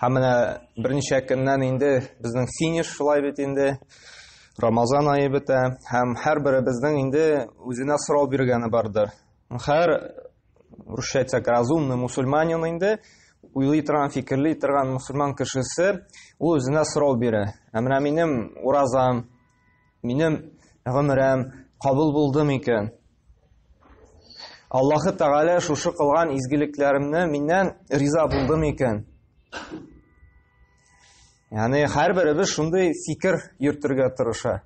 Һәм менә берничә көннән инде безнең финиш шулай бит инде. Рамазан айы бетә һәм һәрберебезнең инде үзенә сорау биргәне бардыр. Һәр русча әйтсәк разумный мусульманин инде уйлый торган, фикерли торган мусульман кешесе ул үзенә сорау бирә. Ә менә минем уразам, Минем гомерем кабул булды микән? Аллаһы Тәгалә шушы кылган изгелекләремне миннән риза булды микән? Яни һәрберебез шундый фикер йөртергә тырыша.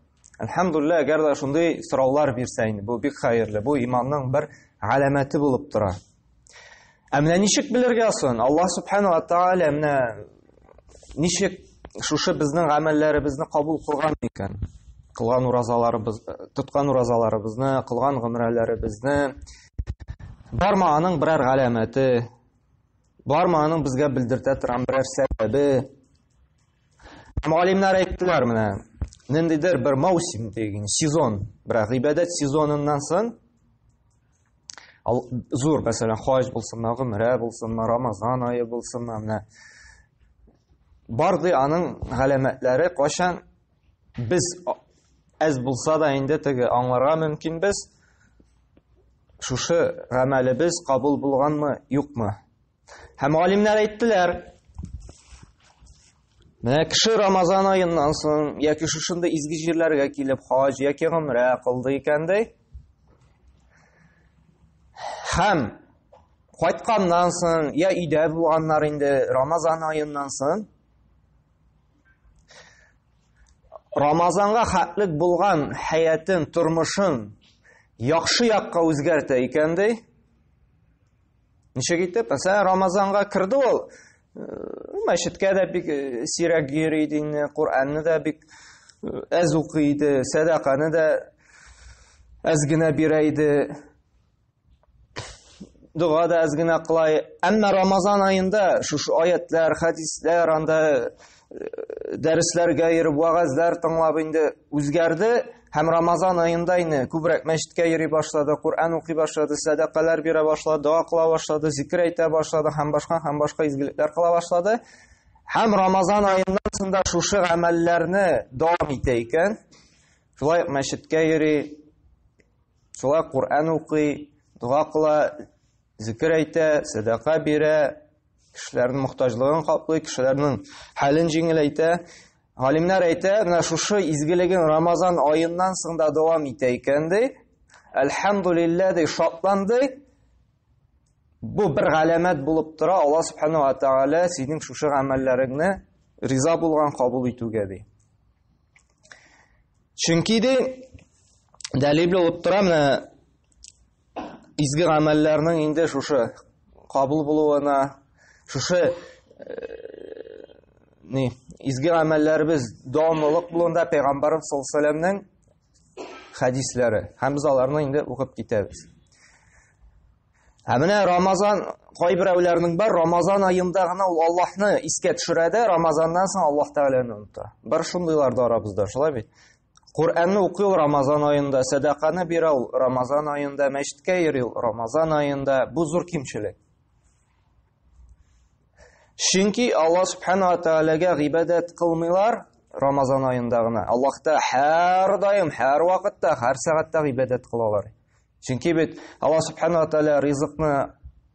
Әлхәмдуллаһ, әгәр дә шундый сораулар бирсә инде, бу бик хәерле. Бу иманның бер галәмәте булып тора. Ә менә ничек белергә сон? Аллаһ субхана ва тааля менә ничек шушы безнең гамәлләребезне кабул кылган икән? Кылган уразаларыбыз, тоткан уразаларыбызны, кылган гомрәләребезне барма аның берәр галәмәте, барма аның безгә белдертә торган берәр сәбәбе. Мугалимнәр әйттеләр менә, ниндидер бер маусим дигән сезон, бер гыйбадәт сезоныннан соң Ал, зур, мәсәлән, хаҗ булсынмы, гөмрә булсынмы, рамазан айы булсынмы, менә барды аның галәмәтләре кайчан без әз булса да инде теге аңларга мөмкин без шушы гамәлебез кабул булганмы, юкмы Һәм галимнәр әйттеләр, Менә кеше Рамазан аеннан соң яки шушында изге җирләргә килеп хаҗ яки гомрә кылды икән ди. Һәм кайтканнан соң я өйдә булганнар инде Рамазан аеннан соң Рамазанга хәтлек булган хәятын, тормышын яхшы якка үзгәртә икән ди. Ничек итеп? Мәсәлән, Рамазанга керде ул, э, мәчеткә дә бик э, сирәк йөри иде инде, Коръәнне дә бик э, әз укый иде, сәдаканы да әз генә бирә иде. Дога да әз генә кыла. Әмма Рамазан аенда шушы аятлар, хадислар анда дәресләргә йөреп, вәгазьләр тыңлап инде үзгәрде һәм Рамазан аенда инде күбрәк мәчеткә йөри башлады, Коръән укый башлады, сәдакалар бирә башлады, дога кыла башлады, зикер әйтә башлады һәм башка һәм башка изгелекләр кыла башлады. Һәм Рамазан аеннан соң да шушы гамәлләрне дәвам итә икән. Шулай мәчеткә йөри, шулай Коръән укый, дога кыла, зикер әйтә, сәдака бирә, Кешеләрнең мохтаҗлыгын каплый, кешеләрнең хәлен җиңеләйтә. Галимнәр әйтә, менә шушы изгелеген Рамазан аеннан соң да дәвам итә икән ди. Әлхәмдулиллә ди, шатланды. Бу бер галәмәт булып тора, Алла субхану ва тааля синең шушы гамәлләреңне риза булган кабул итүгә ди. Чөнки ди, дәлил булып тора, менә изге гамәлләрнең инде шушы кабул булуына, шушы э, ни, изге гамәлләребез дәвамлылык булуында Пәйгамбарыбыз саллаллаху алейһи вәсәлләмнең хәдисләре. Һәм без аларны инде укып китәбез. Ә менә Рамазан кайберәүләрнең бар, Рамазан аенда гына ул Аллаһны искә төшерә дә, Рамазаннан соң Аллаһ Тәгаләне оныта. Бар шундыйлар да арабызда, шулай бит? Коръәнне укый ул Рамазан аенда, сәдаканы бирә ул Рамазан аенда, мәчеткә йөри ул Рамазан аенда. Бу зур кимчелек. Чөнки Алла субхана ва тәгаләгә гыйбадәт кылмыйлар Рамазан аенда гына. Аллаһта һәрдаим, һәр вакытта, һәр сәгатьтә гыйбадәт кылалар. Чөнки бит Алла субхана ва тааля ризыкны,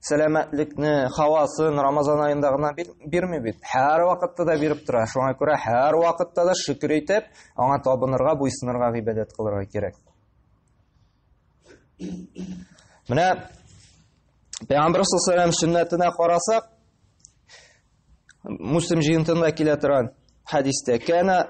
сәламәтлекне, хавасын Рамазан аенда гына бирми бит. Һәр вакытта да биреп тора. Шуңа күрә һәр вакытта да шөкер итеп, аңа табынырга, буйсынырга, гыйбадәт кылырга кирәк. Менә Пәйгамбер саллаллаху сөннәтенә карасак, Муслим җыентында килә торган хадистә, "Кана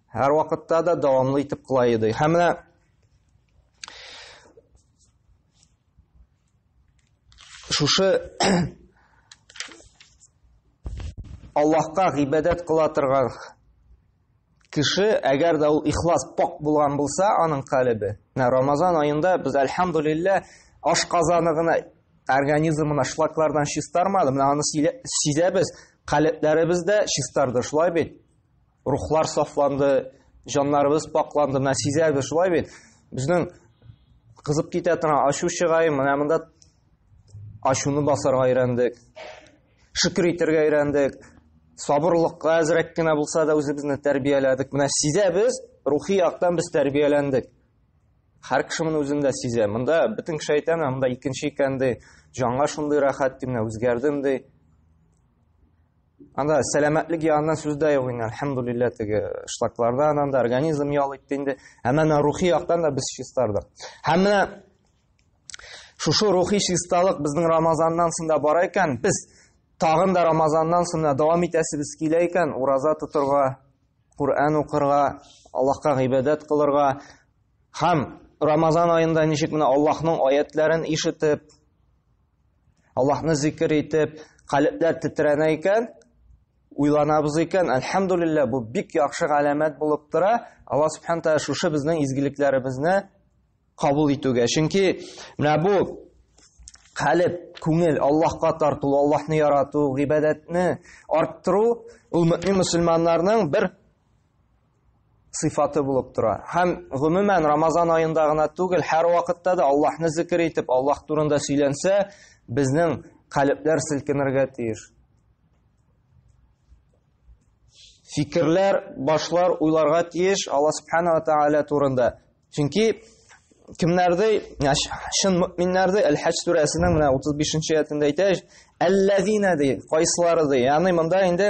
Һәр вакытта да дәвамлы итеп кыла иде. Һәм менә шушы Аллаһка гыйбадәт кыла торган кеше, әгәр дә ул ихлас пак булган булса, аның калебе. Менә Рамазан аенда без альхамдулиллаһ аш казаны гына организмына шлаклардан чистармады. Менә аны сизәбез, калебләребез дә чистарды, шулай бит. рухлар сафланды, җаннарыбыз пакланды. Менә сизәбез шулай бит. Безнең кызып китә торган ачу чыгай, менә монда ачуны басарга өйрәндек. Шөкер итәргә өйрәндек. Сабырлыкка әзрәк кенә булса да үзебезне тәрбияләдек. Менә сизәбез, рухи яктан без тәрбияләндек. Һәр кеше моны үзендә сизә. Монда бөтен кеше әйтә, монда икенче икән ди, җанга шундый рәхәт ди, менә үзгәрдем ди. Анда сәламәтлек ягыннан сүз дә юк инде, әлхәмдулиллә, теге шлакларда анда организм ял итте инде. Ә менә рухи яктан да без чистардык. Һәм менә шушы рухи чисталык безнең Рамазаннан соң да бар икән, без тагын да Рамазаннан соң да дәвам итәсебез килә икән, ураза тотырга, Куръан укырга, Аллаһка гыйбадәт кылырга һәм Рамазан аенда ничек менә Аллаһның аятларын ишетеп, Аллаһны зикер итеп, калебләр тетрәнә икән, уйланабыз икән, әлхәмдулиллә, бу бик яхшы галәмәт булып тора. Алла субхан тәгалә шушы безнең изгелекләребезне кабул итүгә. Чөнки менә бу калеб, күңел Аллаһка тарту, Аллаһны ярату, гыйбадәтне арттыру ул мөмин мусламаннарның бер сыйфаты булып тора. Һәм гомумән Рамазан аенда гына түгел, һәр вакытта да Аллаһны зикр итеп, Аллаһ турында сөйләнсә, безнең калебләр селкенергә тиеш. Фикерләр, башлар уйларга тиеш Аллаһ субханала тааля турында. Чөнки кемнәрдә, чын мөминнәрдә Әл-Хаҗ сүрәсенең менә 35-нче аятында әйтә, "Әлләзина" ди, кайсылары ди. Ягъни монда инде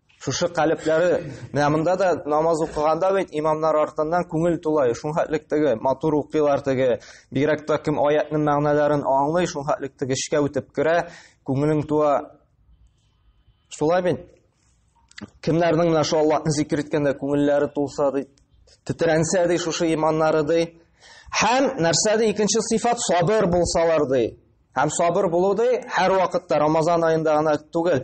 Шушы калепләре, менә монда да намаз укыганда бит имамнар артыннан күңел тулай, шул хәтлек теге матур укыйлар теге, бигрәк тә кем аятның мәгънәләрен аңлый, шул хәтлек теге эчкә үтеп керә, күңелең туа. Шулай бит. Кемнәрнең менә шул Аллаһны зикр иткәндә күңелләре тулса ди, тетрәнсә ди шушы иманнары ди. Һәм нәрсә ди икенче сыйфат сабыр булсалар ди. Һәм сабыр булу ди һәр вакытта Рамазан аенда гына түгел,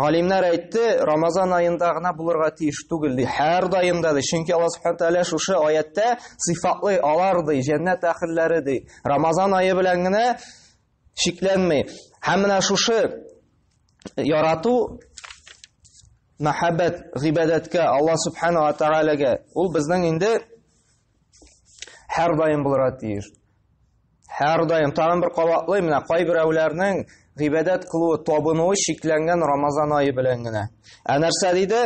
Галимнәр әйтте, Рамазан аенда гына булырга тиеш түгел ди, һәр даенда ди. Чөнки Аллаһ Субхану тәгалә шушы аятта сыйфатлы алар ди, җәннәт әхилләре ди. Рамазан ае белән генә шикләнми. Һәм менә шушы ярату мәхәббәт гыйбадәткә Аллаһ Субхану тәгаләгә ул безнең инде Һәр даим булырга тиеш. Һәр даим тагын бер кабатлый, менә кайберәүләрнең гыйбадәт кылуы, табынуы шикләнгән Рамазан айы белән генә. Ә нәрсә диде?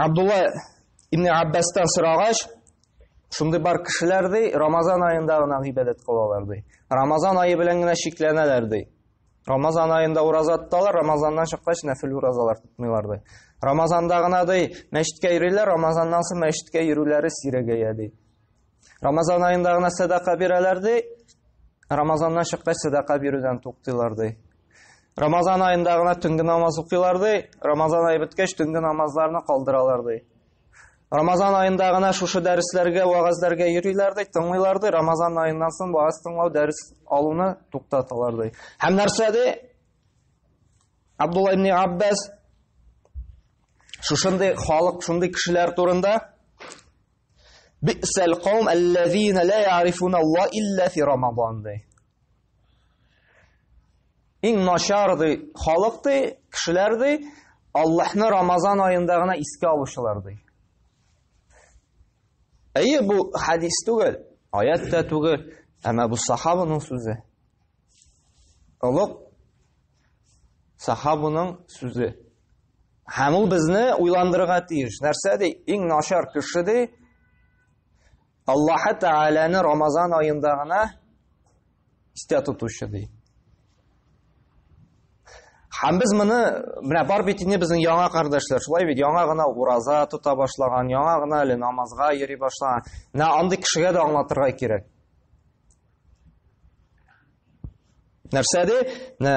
Абдулла ибн Аббастан сорагач, шундый бар кешеләр ди, Рамазан аенда гына гыйбадәт кылалар ди. Рамазан айы белән генә шикләнәләр ди. Рамазан аенда ураза тоталар, Рамазаннан чыккач нәфил уразалар тотмыйлар ди. Рамазанда гына ди, мәчеткә йөриләр, Рамазаннан соң мәчеткә йөрүләре сирәгәя ди. Рамазан аенда гына садака бирәләр ди, Рамазаннан чыккач садака бирүдән туктыйлар ди. Рамазан аенда гына төнге намаз укыйлар ди, Рамазан ае беткәч төнге намазларны калдыралар ди. Рамазан аенда гына шушы дәресләргә, вәгазьләргә йөриләр ди, тыңлыйлар ди. Рамазан аеннан соң вәгазь тыңлау, дәрес алуны туктаталар ди. Һәм нәрсә ди? Абдулла ибн Аббас шушындый халык, шундый кешеләр турында Бисәл каум аллазина ла ярифуна Алла илла фи Рамазан ди. Иң начар ди, халык ди, кешеләр ди, Аллаһны Рамазан аенда гына искә алучылар ди. Әйе, бу хадис түгел, аят та түгел, әмма бу сахабының сүзе. Олуг сахабының сүзе. Һәм ул безне уйландырырга тиеш. Нәрсә ди? Иң начар кеше ди, Аллаһы Тәгаләне Рамазан аенда гына истә тотучы ди. Һәм без моны менә бар бит инде безнең яңа кардәшләр, шулай бит, яңа гына ураза тота башлаган, яңа гына әле намазга йөри башлаган. Менә андый кешегә дә аңлатырга кирәк. Нәрсә ди? Менә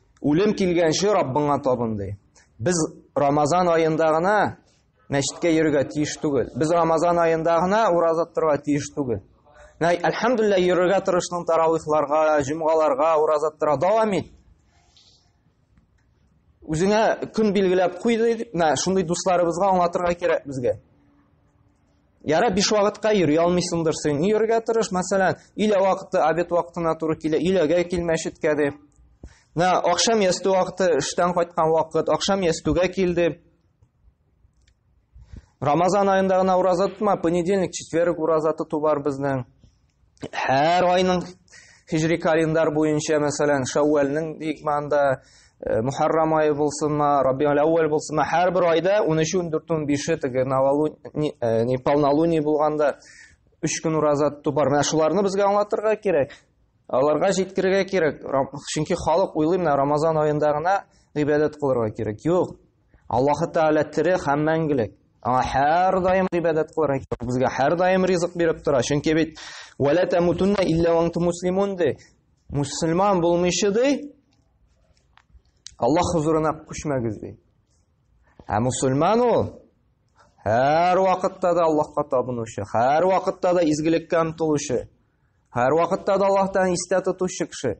Үлем килгәнче Раббыңа табын, ди. Без Рамазан аенда гына мәчеткә йөрергә тиеш түгел. Без Рамазан аенда гына ураза торырга тиеш түгел. Нәй, әлхәмдулилла, йөрергә тырышның таравихларга, җомгаларга, ураза тора дәвам ит. Үзеңә көн билгеләп куй дип, менә шундый дусларыбызга аңлатырга кирәк безгә. Яра биш вакытка йөри алмыйсыңдыр син. Йөрергә тырыш, мәсәлән, илә вакыты обед вакытына туры килә, иләгә кил мәчеткә дип. Менә ахшам ястү вакыты, эштән кайткан вакыт, ахшам ястүгә кил дип. Рамазан аенда гына ураза тотма, понедельник, четверг ураза тоту бар безнең. һәр айның хижри календар буенча, мәсәлән, Шәүвәлнең бик манда э, Мухаррам айы булсынмы, Раббиул әүвәл булсынмы, һәрбер айда 13-өн, 4-өн, 5-е теге Навалуни, Палналуни булганда 3 көн ураза тоту бар. Менә шуларны безгә аңлатырга кирәк. Аларга җиткерергә кирәк. Чөнки халык уйлый, менә Рамазан аенда гына гыйбадәт кылырга кирәк. Юк, Аллаһы Тәгалә тере һәм мәңгелек. Аңа һәр даим гыйбадәт кылырга кирәк. Безгә һәр даим ризык биреп тора. Чөнки бит вәлә тамутунна илля ванты муслимун ди. Мусульман булмыйча ди. Аллаһ хузурына күчмәгез ди. Ә мусульман ул һәр вакытта да Аллаһка табынучы, һәр вакытта да изгелеккә омтылучы, һәр вакытта да Аллаһтан истә тотучы кеше.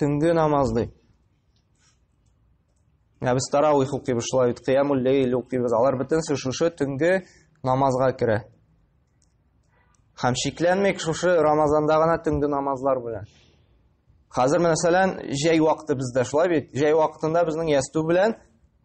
төнге намаз ди. Ә без тарауих укыйбыз шулай бит, кыямул лейл укыйбыз. Алар бөтенесе шушы төнге намазга керә. Һәм шикләнмик шушы Рамазанда гына төнге намазлар белән. Хәзер мәсәлән, җәй вакыты бездә шулай бит. Җәй вакытында безнең ясту белән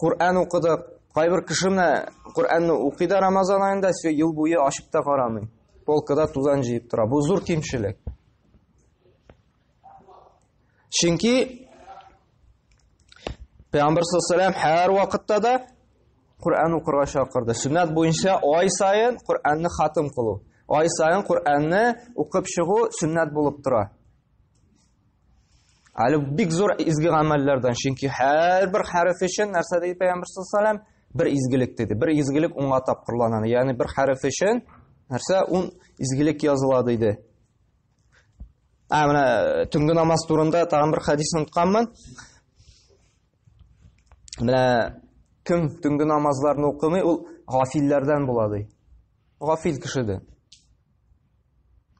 Коръән укыдык. Кайбер кеше менә Коръәнне укый да Рамазан аенда, все ел буе ачып та карамый. Полкада тузан җыеп тора. Бу зур кимчелек. Чөнки Пәйгамбер саллаллаху һәр вакытта да Коръән укырга чакырды. Сүннәт буенча ай сайын Коръәнне хатым кылу. Ай сайын Коръәнне укып чыгу сүннәт булып тора. Әле бик зур изге гамәлләрдән, чөнки һәрбер хәреф өчен нәрсә диде Пәйгамбер саллаллаһу бер изгелек диде. Бер изгелек уңга тапкырлана. Ягъни бер хәреф өчен нәрсә ун изгелек языла диде. Ә менә э, төнге намаз турында тагын бер хадис онытканмын. Менә кем төнге намазларны укымый, ул гафилләрдән була ди. Гафил кеше ди.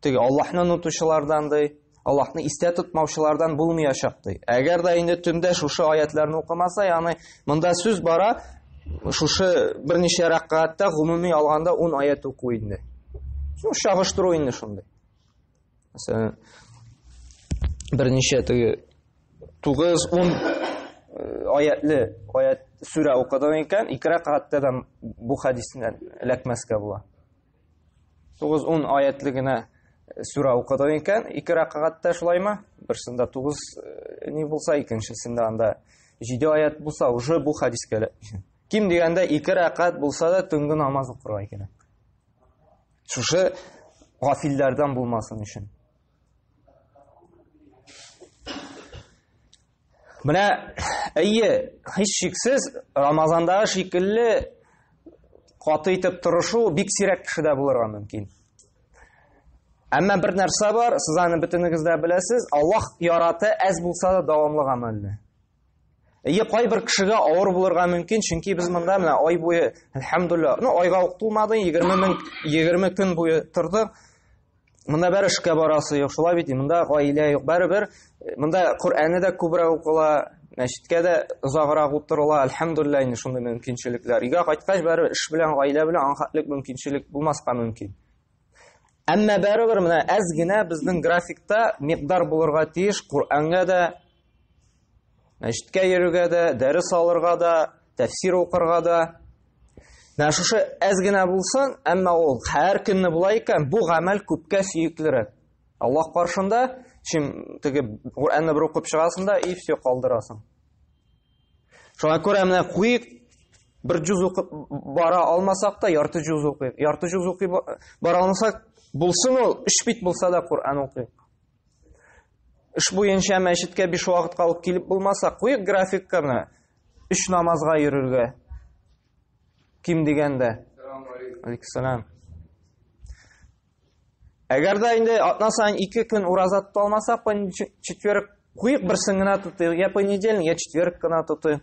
Теге Аллаһны онытучылардан ди, Аллаһны истә тотмаучылардан булмаячак ди. Әгәр дә инде төндә шушы аятларны укымаса, ягъни монда сүз бара, шушы берничә рәкъгатта гомуми алганда 10 аят уку инде. Шул чагыштыру инде шундый. Мәсәлән, берничә теге 9-10 аятлы аят сүрә укыдың икән, ике рәкъгатта да бу хәдистән эләкмәскә була. 9-10 аятлы генә сүрә укыдык икән, ике рәкъгатьтә шулаймы? Берсендә 9 э, ни булса, икенчесендә анда 7 аят булса, уже бу хәдискә ким дигәндә ике рәкъгат булса да төнге намаз укырга кирәк. Шушы гафилләрдән булмасын өчен. Менә әйе, һич шиксез, Рамазандагы шикелле каты итеп тырышу бик сирәк кешедә булырга мөмкин. Әмма бер нәрсә бар, сез аны бөтенегез дә беләсез, Аллаһ яраты әз булса да дәвамлы гамәлне. Әйе, кайбер кешегә авыр булырга мөмкин, чөнки без монда менә ай буе, әлхәмдулилла, ну айга ук тулмады, 20 мең 20 көн буе тордык. Монда бер эшкә барасы юк, шулай бит, монда гаилә юк. Бәребер э, монда Коръәнне дә күбрәк укыла, мәчеткә дә озаграк утырыла. Альхамдулилла, инде шундый мөмкинчелекләр. Өйгә кайткач, бәребер эш белән, гаилә белән анхатлык мөмкинчелек булмаска мөмкин. Әмма бәребер менә әз генә безнең графикта микъдар булырга тиеш Коръәнгә дә, Мәчеткә йөрергә дә, дәрес алырга да, тәфсир укырга да. Менә шушы әз генә булсын, әмма ул һәр көнне була икән, бу гамәл күпкә сөеклерәк. Аллаһ каршында, чим теге Куранны бер укып чыгасың да и все калдырасың. Шуңа күрә менә куйык бер җүз укып бара алмасак та ярты җүз укыйк. Ярты җүз укып бара алмасак, булсын ул 3 бит булса да Куран укыйк. Эш буенча мәчеткә биш вакытка алып килеп булмаса, куйык графикканы өч намазга йөрергә. Ким дигәндә. Алексанам. Әгәр дә инде атна сайын ике көн ураза тота алмасак, четверг куйык берсен генә тотыйк, я понедельник, я четверг кына тотыйк.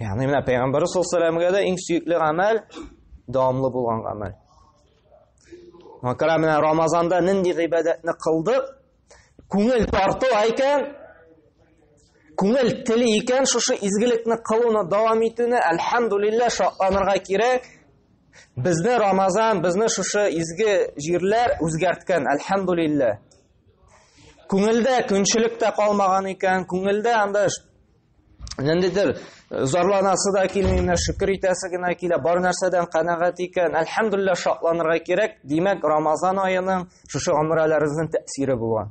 Ягъни менә пәйгамбәр саллаллаһу да иң сөекле гамәл дәвамлы булган гамәл. Макара менә Рамазанда нинди гыйбадәтне кылдык? Күңел тарту икән, күңел тели икән, шушы изгелекне кылуны дәвам итүне альхамдулилла шатланырга кирәк. Безне Рамазан, безне шушы изге җирләр үзгәрткән, альхамдулилла. Күңелдә көнчелек тә калмаган икән, күңелдә анда ниндидер э, зарланасы да килми, менә шөкер итәсе генә килә, бар нәрсәдән канәгать икән. Әлхәмдулилла шатланырга кирәк. Димәк, Рамазан аеның шушы гомрәләребезнең тәэсире була.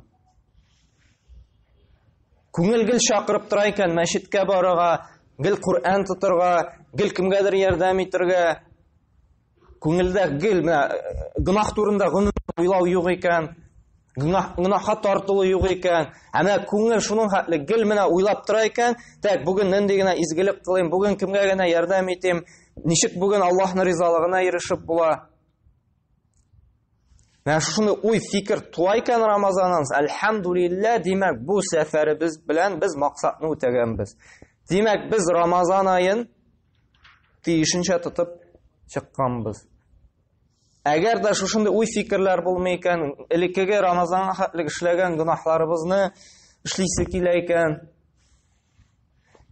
Күңел гел чакырып тора икән мәчеткә барырга, гел Коръән тотырга, гел кемгәдер ярдәм итәргә. Күңелдә гел менә э, гөнаһ турында гөнаһ уйлау юк икән, гөнаһ гөнаһка тартылу юк икән. Ә менә күңел шуның хәтле гел менә уйлап тора икән, так бүген нинди генә изгелек кылыйм, бүген кемгә генә ярдәм итим, ничек бүген Аллаһның ризалыгына ирешеп була. Менә шуны уй фикер туа икән Рамазаннан, әлхәмдулиллә, димәк, бу сәфәребез белән без максатны үтәгәнбез. Димәк, без Рамазан аен тиешенчә тотып чыкканбыз. Әгәр дә шушындый уй фикерләр булмый икән, элеккеге Рамазанга хәтлек эшләгән гөнаһларыбызны эшлисе килә икән,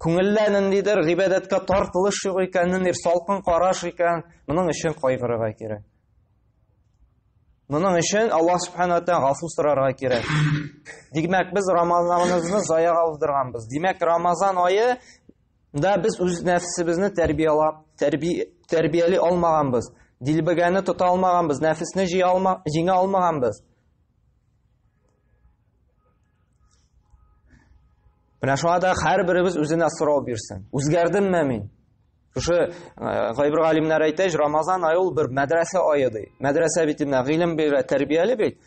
күңелдә ниндидер гыйбадәткә тартылыш юк икән, ниндидер салкын караш икән, моның өчен кайгырырга кирәк. Моның өчен Аллаһ субхана тән гафу сорарга кирәк. Димәк, без Рамазаныбызны заяга уздырганбыз. Димәк, Рамазан айы Да без үз нәфсебезне тәрбиялап, тәрби, тәрбияли алмаганбыз. Дилбегәне тота алмаганбыз, нәфесне җия алма, җиңә алмаганбыз. Менә шуңа да һәрберебез үзенә сорау бирсен. Үзгәрдемме мин? Шушы э, гайбер галимнәр әйтә, Рамазан айы ул бер мәдрәсә ае ди. Мәдрәсә бит инде гыйлем бирә, тәрбияли бит.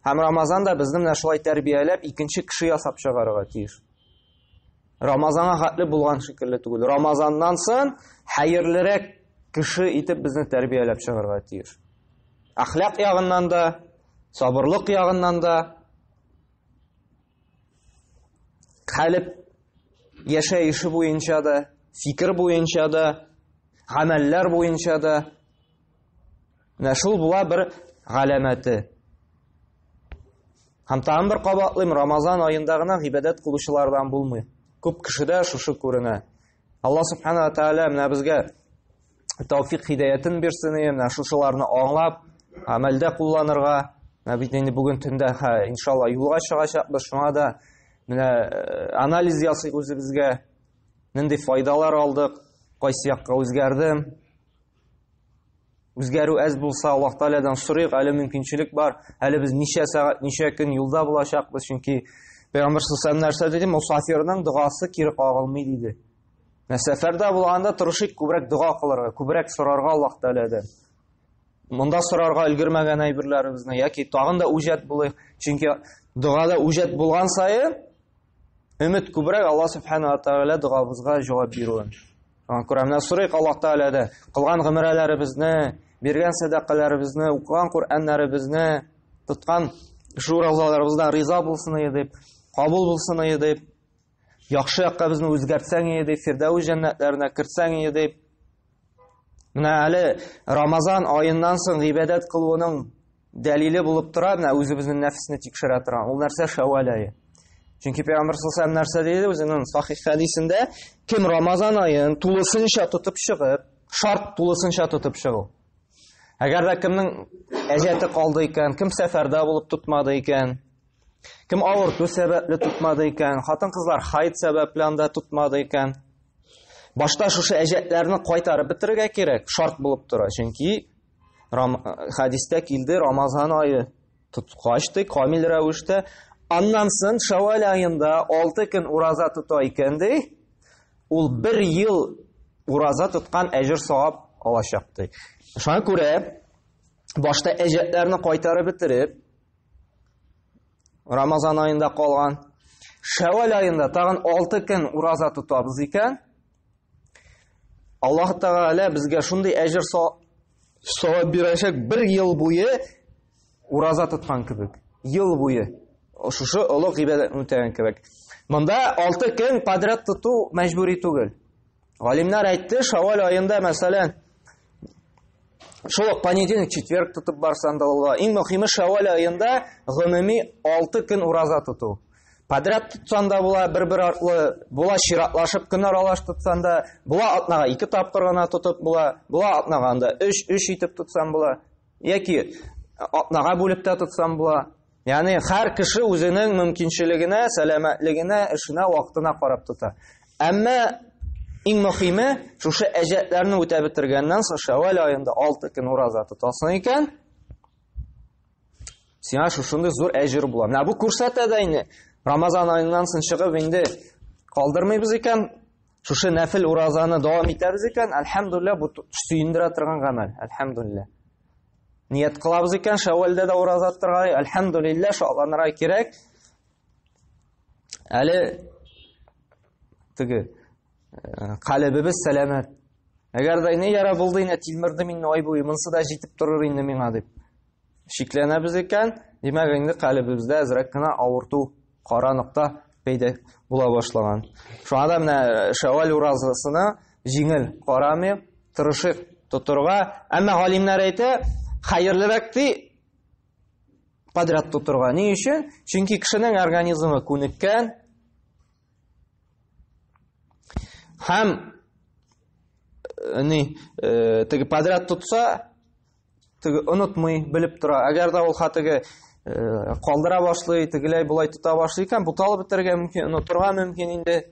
Һәм Рамазан да безне менә шулай тәрбияләп, икенче кеше ясап чыгарырга тиеш. Рамазанга хәтле булган шикелле түгел. Рамазаннан сон хәерлерәк кеше итеп безне тәрбияләп чыгарга тиеш. Әхлак ягыннан да, сабырлык ягыннан да, хәлеп яшәеше буенча да, фикер буенча да, гамәлләр буенча да Менә шул була бер галәмәте. Һәм тагын бер кабатлыйм, Рамазан аенда гына гыйбадәт кылучылардан булмый. Күп кешедә шушы күренә. Алла субхана ва тааля менә безгә тауфик хидәятен бирсен, менә шушыларны аңлап, гамәлдә кулланырга. Менә бит инде бүген төндә, ха, иншалла, юлга чыгачакбыз. Шуңа да менә э, анализ ясыйк үзебезгә. Нинди файдалар алдык, кайсы якка үзгәрдем, Үзгәрү әз булса, Аллаһ Таалядан сорыйк, әле мөмкинчелек бар. Әле без ничә сәгать, ничә көн юлда булачакбыз, чөнки Пәйгамбер саллаллаху нәрсә диде? Мусафирның догасы кире кагылмый диде. Менә сәфәрдә булганда тырышыйк күбрәк дога кылырга, күбрәк сорарга Аллаһ Таалядан. Монда сорарга өлгермәгән әйберләребезне яки тагын да үҗәт булыйк, чөнки догада үҗәт булган саен Өмет күбрәк Алла Субхана Тәгалә догабызга җавап бирүен. Аңа күрә менә сорыйк Алла Тәгаләдә кылган гомерләребезне, биргән сәдакаларыбызны, укыган Коръәннәребезне, тоткан шул розаларыбыздан риза булсын иде дип, кабул булсын иде дип, яхшы якка безне үзгәртсәң иде дип, Фирдәүс җәннәтләренә кертсәң иде дип. Менә әле Рамазан аеннан соң гыйбадәт кылуның Дәлиле булып тора, менә үзебезнең нәфсне тикшерә торган. Ул нәрсә шәвәл ае. Чөнки Пәйгамбер саллаллаху алейһи нәрсә диде үзенең сахих хәдисендә, кем Рамазан аен тулысынча тотып чыгып, шарт тулысынча тотып чыгу. Әгәр дә кемнең әҗәте калды икән, кем сәфәрдә булып тотмады икән, кем авырту сәбәпле тотмады икән, хатын-кызлар хайд сәбәпле анда тотмады икән, башта шушы әҗәтләрне кайтарып бетерергә кирәк, шарт булып тора. Чөнки Рам, хадистә килде, Рамазан айы тоткач ди, камил рәвештә. Аннан соң Шәвәл айында 6 көн ураза тота икән ди, ул бер ел ураза тоткан әҗер савап алачак ди. Шуңа күрә башта әҗәтләрне кайтарып бетереп, Рамазан айында калган Шәвәл айында тагын 6 көн ураза тотабыз икән, Аллаһ Тәгалә безгә шундый әҗер савап бирәчәк, бер ел буе ураза тоткан кебек. Ел буе шушы олы гыйбадәтне үтәгән кебек. Монда 6 көн подряд тоту мәҗбүри түгел. Галимнәр әйтте, Шавал аенда, мәсәлән, шул понедельник, четверг тотып барсаң да була. Иң мөһиме Шавал аенда гомуми 6 көн ураза тоту. Подряд тотсан да була, бер-бер артлы, була чиратлашып көн аралаш тотсан да, була атнага ике тапкыр гына тотып була, була атнага анда 3-3 итеп тотсан була, яки атнага бүлеп тә тотсан була. Яни һәр кеше үзенең мөмкинчелегенә, сәламәтлегенә, эшенә, вакытына карап тота. Әмма иң мөхиме, шушы әҗәтләрне үтә бетергәннән соң Шәвәл аенда 6 көн ураза тотасың икән. Сиңа шушындый зур әҗер була. Менә бу күрсәтә дә инде. Рамазан аеннан соң чыгып инде калдырмыйбыз икән, шушы нәфил уразаны дәвам итәбез икән, әлхәмдулилла, бу сөендерә торган гамәл. Әлхәмдулилла. Ният кылабыз икән, Шәвәлдә дә ураза торга, әлхәмдулилла, шатланырга кирәк. Әле теге Калебебез сәламәт. Әгәр дә не яра булды инде тилмерде мине ай буе, монсы да җитеп торыр инде миңа дип. Шикләнәбез икән, димәк инде калебебездә әзрәк кенә авырту, кара нокта пәйдә була башлаган. Шуңа да менә Шәвәл уразасына җиңел карамый, тырышык тотырга. Әмма галимнәр әйтә, хәерлерәк ди подряд тотырга. Ни өчен? Чөнки кешенең организмы күнеккән, Һәм ни, э, теге подряд тотса, теге онытмый, белеп тора. Әгәр дә ул хатыгы э, калдыра башлый, тегеләй булай тота башлый икән, буталып бетергә мөмкин, онытырга мөмкин инде.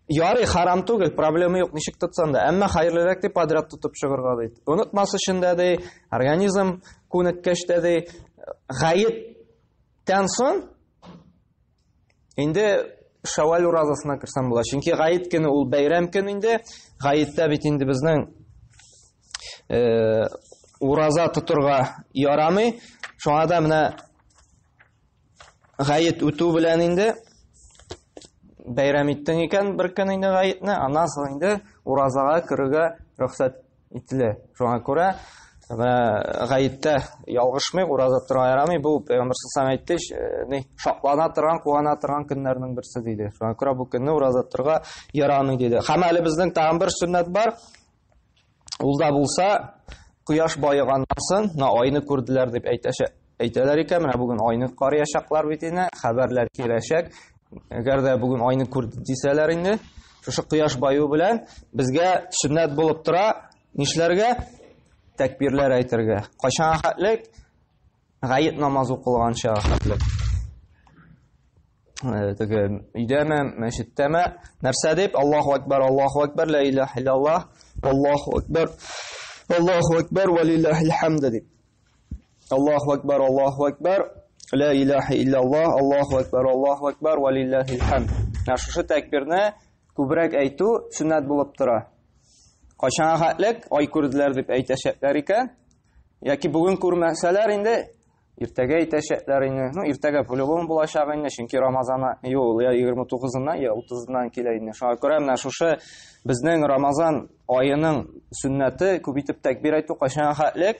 Ярый, харам түгел, проблема юк, ничек тотсаң да. Әмма хәерлерәк дип подряд тотып чыгырга ди. Онытмас өчен дә ди, организм күнеккәч тә ди, гаеттән соң Инде Шәвәл уразасына керсәм була. Чөнки Гаит көне ул бәйрәм көн инде. Гаиттә бит инде безнең э, ураза тотырга ярамый. Шуңа да менә Гаит үтү белән инде бәйрәм иттең икән бер көн инде Гаитне, аннан соң инде уразага керергә рөхсәт Итле. Шуңа күрә гаеттә ялгышмый, ураза тора ярамый. Бу Пәйгамбер саллаллаху әйтте, э, шатлана торган, куана торган көннәрнең берсе диде. Шуңа күрә бу көнне ураза торга ярамый диде. Һәм әле безнең тагын бер сөннәт бар. Ул да булса, кояш баеганнан соң, на айны күрделәр дип әйтәчәк. Әйтәләр икән, менә бүген айны карыячаклар бит инде, хәбәрләр киләчәк. Әгәр дә бүген айны күрде дисәләр инде, шушы кояш баю белән безгә сөннәт булып тора, нишләргә? Тәкбирләр әйтергә. Кайчан хәтлек? Гает намаз укылганча хәтлек. Э, теге өйдәме, мәчеттәме, нәрсә дип? Аллаһу акбар, Аллаһу акбар, ла илаһ иллаллаһ, Аллаһу акбар, Аллаһу акбар, ва лиллаһил хамд дип. Аллаху акбар, Аллаху акбар, ла илаха илляллах, Аллаху акбар, Аллаху акбар, ва лиллахил хам. Ә шушы тәкбирне күбрәк әйтү сөннәт булып тора. Кайчанга хәтлек ай күрделәр дип әйтәчәкләр икән, яки бүген күрмәсәләр инде иртәгә әйтәчәкләр инде. Ну, иртәгә по-любому булачак инде, чөнки Рамазана юл я 29-ннан, я 30-ннан килә инде. Шуңа күрә менә шушы безнең Рамазан аеның сөннәте күп итеп тәкбир әйтү кайчанга хәтлек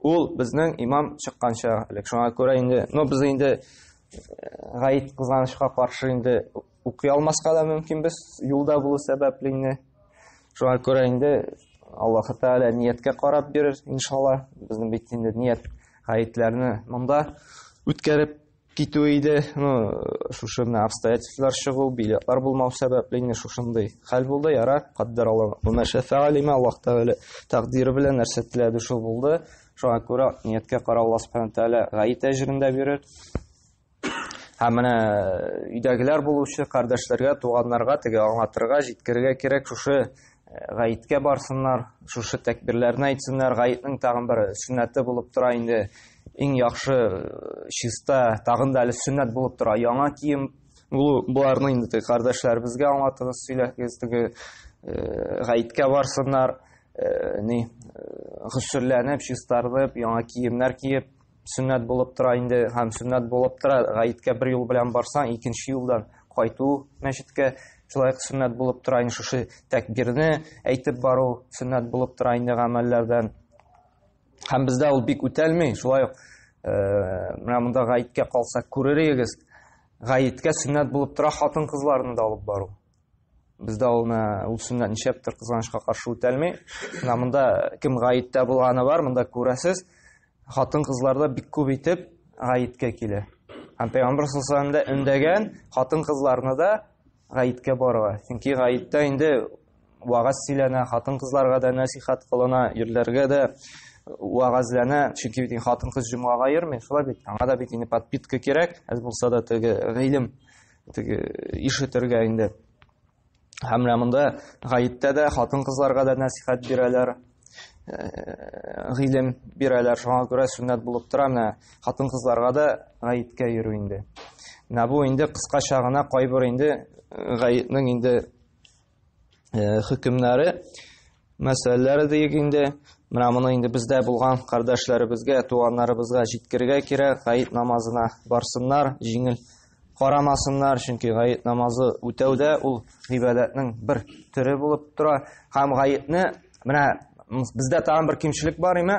Ул безнең имам чыкканча элек. Шуңа күрә инде, но без инде э, гаит кызганычка каршы инде укый алмаска да мөмкин без юлда булу сәбәпле инде. Шуңа күрә инде Аллаһ Тәгалә нияткә карап бирер, иншалла. Безнең бит инде ният гаетләрне монда үткәреп китүе иде. Ну, шушы менә обстоятельстволар чыгу, билетлар булмау сәбәпле инде шушындый хәл булды. Яра, каддәр Аллаһ. Ума шәфәгалима Аллаһ Тәгалә тәкъдире белән нәрсә теләде шул булды. Шуңа күрә нияткә карап Аллаһ Субхану Тәгалә гаит әҗрен дә бирер. Һәм менә өйдәгеләр булучы кардәшләргә, туганнарга теге аңлатырга, җиткерергә кирәк шушы гаеткә барсыннар, шушы тәкбирләрне әйтсеннәр, гаетнең тагын бер сөннәте булып тора инде, иң яхшы чиста, тагын да әле сөннәт булып тора, яңа кием булу, боларны инде теге кардәшләребезгә аңлатыгыз, сөйләгез, теге гаеткә барсыннар, ни, гөсселләнеп, чистарынып, яңа киемнәр киеп, сөннәт булып тора инде һәм сөннәт булып тора гаеткә бер юл белән барсаң икенче юлдан кайту мәчеткә шулай ук сөннәт булып тора инде шушы тәкбирне әйтеп бару сөннәт булып тора инде гамәлләрдән һәм бездә ул бик үтәлми шулай ук э, менә монда гаеткә калса күрер идегез гаеткә сөннәт булып тора хатын кызларны да алып бару Бездә ул ул сөннәт ничәптер кызганычка каршы үтәлми. Менә монда кем гаеттә булганы бар, монда күрәсез. Хатын кызларда бик күп итеп гаеткә килә. Һәм Пәйгамбер саллаллаху алейһи өндәгән хатын кызларны да гаеткә барырга. Чөнки гаеттә инде вагаз сөйләнә, хатын кызларга да насихат кылына, ирләргә дә вагазлана, чөнки бит хатын-кыз җомгага йөрми, шулай бит. Аңа да бит инде подпитка кирәк, әз булса да теге гыйлем теге ишетергә инде. Һәм менә монда гаеттә дә хатын-кызларга да нәсихәт бирәләр, гыйлем бирәләр. Шуңа күрә сүннәт булып тора менә хатын-кызларга да гаеткә йөрү инде. Менә бу инде кыскача гына кайбер инде гаетнең инде э, хөкемнәре мәсьәләләре диек инде менә моны инде бездә булган кардәшләребезгә туганнарыбызга җиткергә кирәк гаит намазына барсыннар җиңел карамасыннар чөнки гаит намазы үтәүдә ул гыйбадәтнең бер төре булып тора һәм гаетне менә бездә тагын бер кимчелек бар име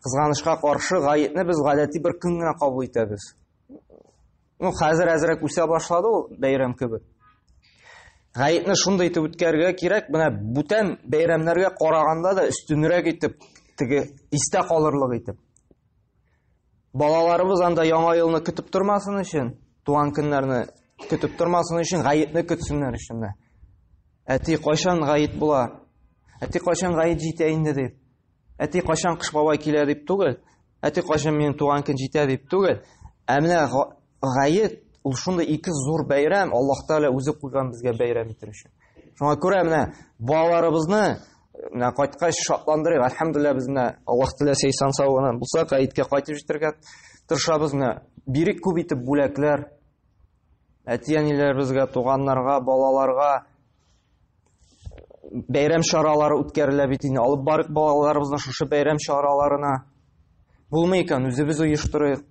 кызганычка каршы гаетне без гадәти бер көн генә кабул итәбез Ну, хәзер әзрәк үсә башлады ул бәйрәм кебек. Гаетне шундый итеп үткәрергә кирәк, менә бүтән бәйрәмнәргә караганда да өстенрәк итеп, теге истә калырлык итеп. Балаларыбыз анда яңа елны көтеп тормасын өчен, туган көннәрне көтеп тормасын өчен гаетне көтсеннәр өчен дә. Әти кайчан гаит була? Әти кайчан гаит җитә инде дип. Әти кайчан кыш бабай килә дип түгел, әти кайчан минем туган көн җитә дип түгел, ә менә гаед ул шундый ике зур бәйрәм, Аллаһ Тәгалә үзе куйган безгә бәйрәм итер өчен. Шуңа күрә менә балаларыбызны менә кайткач шатландырыйк. Әлхәмдулилла без менә Аллаһ теләсә исән сау гына булсак, гаеткә кайтып җитәргә тырышабыз. Менә бирик күп итеп бүләкләр әти-әниләребезгә, туганнарга, балаларга, бәйрәм чаралары үткәрелә бит инде алып барыйк балаларыбызны шушы бәйрәм чараларына булмый икән үзебез оештырыйк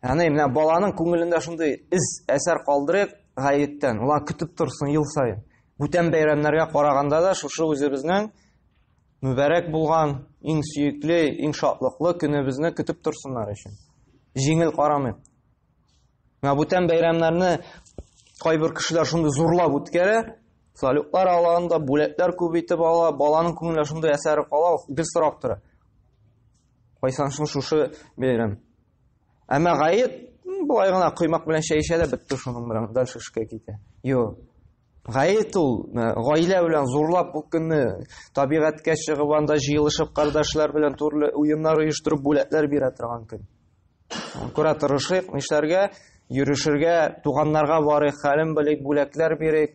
яғни менә баланың күңелендә шундый із әсәр калдырыйк гаеттән олар көтеп торсын ел сайын бүтән бәйрәмнәргә караганда да шушы үзебезнең мүбәрәк булган иң сөекле иң шатлыклы көнебезне көтеп торсыннар өчен җиңел карамыйк Менә бүтән бәйрәмнәрне кайбер кешеләр шундый зурлап үткәрә, салютлар алганда бүләкләр күп итеп ала, баланың күңелендә шундый әсәре кала, гел сорап тора. Кайсан шул шушы бәйрәм. Әмма гаеп былай гына коймак белән чәй эчә дә бетте шуның белән дальше эшкә китә. Юк. Гает ул э, гаилә белән зурлап бу көнне табигатькә чыгып анда җыелышып кардашлар белән төрле уеннар оештырып бүләкләр бирә торган көн. Күрә торышыйк, нишләргә, йөрешергә, туганнарга барыйк, хәлен белик, бүләкләр бирик.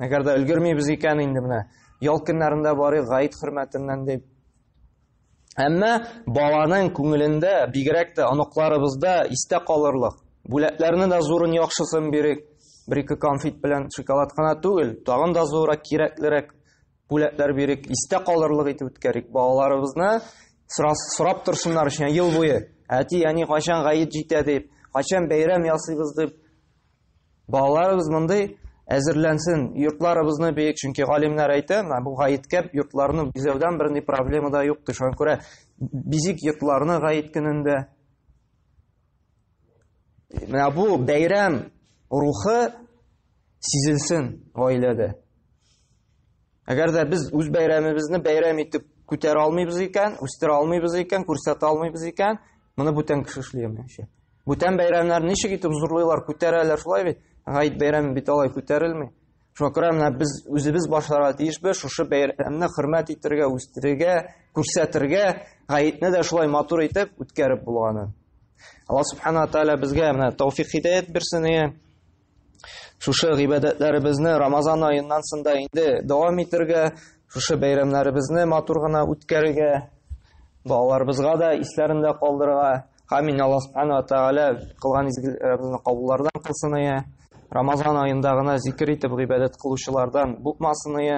Әгәр дә өлгермибез икән инде менә ял көннәрендә барыйк гаит хөрмәтеннән дип Әмма баланың күңелендә, бигрәк тә оныкларыбызда истә калырлык. Бүләкләрне дә зурын яхшысын бирик. Бер-ике конфет белән шоколад кына түгел, тагын да зуррак, кирәклерәк бүләкләр бирик, истә калырлык итеп үткәрик. Балаларыбызны сорап торсыннар өчен ел буе. Әти, әни кайчан гаит җитә дип, кайчан бәйрәм ясыйбыз дип Балаларыбыз мондый әзерләнсен. Йортларыбызны бик, чөнки галимнәр әйтә, бу гаеткә йортларны бизәүдән берни проблема да юк, шуңа күрә бизик йортларны гаит көнендә. Менә бу бәйрәм рухы сизелсен гаиләдә. Әгәр дә без үз бәйрәмебезне бәйрәм итеп күтәрә алмыйбыз икән, үстерә алмыйбыз икән, күрсәтә алмыйбыз икән, моны бүтән кеше эшли алмыйча. Бүтән бәйрәмнәр ничек итеп зурлыйлар, күтәрәләр шулай бит? Гайд бәйрәме бит алай күтәрелми. Шуңа күрә менә без үзебез башларга тиешбез шушы бәйрәмне хөрмәт итәргә, үстерергә, күрсәтергә, гаетне дә шулай матур итеп үткәреп булганын. Алла субхана тааля безгә менә тауфик хидәят бирсен. Шушы гыйбадәтләребезне Рамазан аеннан сында инде дәвам итергә, шушы бәйрәмнәребезне матур гына үткәрергә, балаларыбызга да исләрендә калдырырга. Амин Аллаһ субхана тәгалә кылган изгеләребезне кабуллардан кылсын ие. Рамазан аенда гына зикер итеп гыйбадәт кылучылардан булмасын ие.